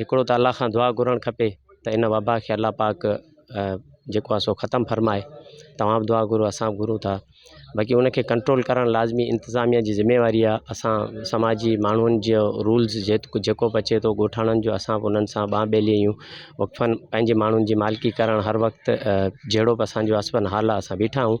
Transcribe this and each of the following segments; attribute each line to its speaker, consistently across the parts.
Speaker 1: هڪڙو ته الله کان دعا گهرڻ کپي ته ان وبا کي الله پاڪ جيڪو آهي سو ختم فرمائي توهان به دعا گهرو اسان به گهرون ٿا باقي ان کي ڪنٽرول ڪرڻ لازمي انتظاميا جي ذميواري آهي اسان سماجي ماڻهن جي رولز جي جيڪو به اچي ٿو ڳوٺاڻن جو اسان به انهن سان ٻانهن ٻيلي آهيون وقفن پنهنجي ماڻهن جي مالڪي ڪرڻ هر وقت جهڙو به اسانجو اسبن حال آهي اسان بيٺا آهيون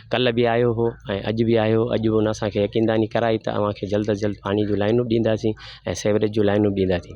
Speaker 1: ڪلهه به آيو هو ۽ اڄ به آيو هو اڄ به ان اسان کي يقين داني ڪرائي ته اوهان کي جلد از جلد پاڻي جون لائنون به ڏينداسين ۽ سيوريج جون لائنون به ڏينداسين